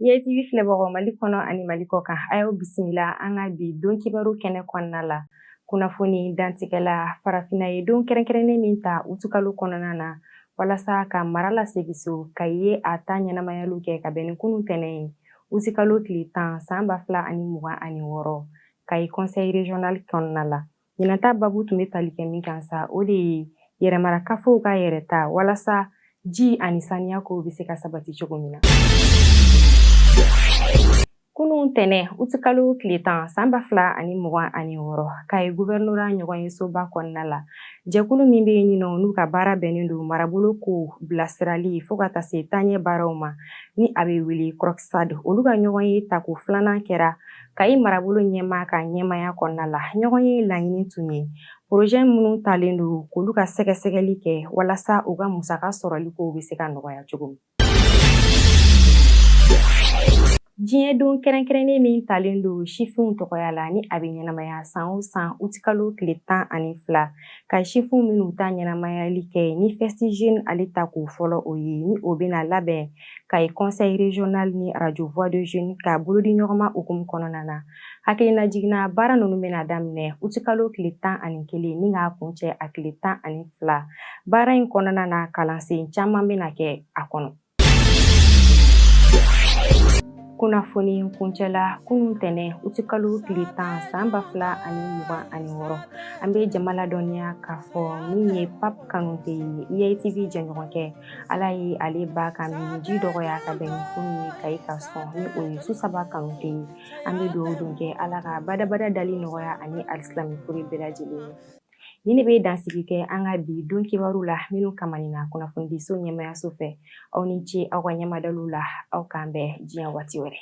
IATV filɛbagaw Mali kɔnɔ ani Mali kɔ kan a y'aw bisimila an ka bi don kibaru kɛnɛ kɔnɔna la kunnafoni dantigɛla farafinna ye don kɛrɛnkɛrɛnnen min ta utukalo kɔnɔna na walasa ka mara lasegin so Kayi ye a ta ɲɛnamayaliw kɛ ka bɛn ni kunun tɛnɛn ye utikalo tile tan san ba fila ani mugan ani wɔɔrɔ kayi conseil régional kɔnɔna la Ɲinan ta baabu tun bɛ tali kɛ min kan sa o de ye yɛrɛmarakafow ka yɛrɛta walasa ji ani saniya kow bɛ se ka sabati cogo min na. Kunun tɛnɛn utikalo tile tan san ba fila ani mugan ani wɔɔrɔ Kayi guvɛrinora ɲɔgɔn ye soba kɔnɔna la jɛkulu min bɛ yen nɔ n'u ka baara bɛnnen don marabolo ko bilasirali fo ka taa se taaɲɛ baaraw ma ni a bɛ wele CROCSAD olu ka ɲɔgɔn ye tako filanan kɛra Kayi marabolo ɲɛmaa ka ɲɛmaya kɔnɔna la ɲɔgɔn ye laɲini tun ye porozɛ minnu talen don k'olu ka sɛgɛsɛgɛli kɛ walasa u ka musaka sɔrɔli kow bɛ se ka nɔgɔya cogo min diɲɛ don kɛrɛnkɛrɛnnen min talen don sifinw tɔgɔya la ni a bɛ ɲɛnamaya san o san utikalo tile tan ani fila Kayi sifinw bɛn'u ta ɲɛnamayali kɛ ni Festi jeune ale tako fɔlɔ o ye ni o bɛna labɛn Kayi conseil régional ni radio voix des jeunes ka bolodiɲɔgɔnma hukumu kɔnɔna na hakilina jiginna baara ninnu bɛna daminɛ utikalo tile tan ani kelen ni k'a kuncɛ a tile tan ani fila baara in kɔnɔna na kalansen caman bɛna kɛ a kɔnɔ kunnafoni kuncɛla kunun tɛnɛn utikalo tile tan san ba fila ani mugan ani wɔɔrɔ an bɛ jama ladɔnniya k'a fɔ min ye Pape Kanute ye IATV jɛɲɔgɔnkɛ ala ye ale ba ka minji dɔgɔya ka bɛn ni kunun ye Kayi Kasɔ ni o ye Susaba Kanute ye an bɛ dugawu don kɛ ala ka badabada dali nɔgɔya ani alisilami fure bɛɛ lajɛlen ye nin de bɛ dansigi kɛ an ka bi don kibaru la minnu kamani na kunnafonidiso ɲɛmayaso fɛ aw ni ce aw ka ɲɛmadaliw la aw k'an bɛn diɲɛ waati wɛrɛ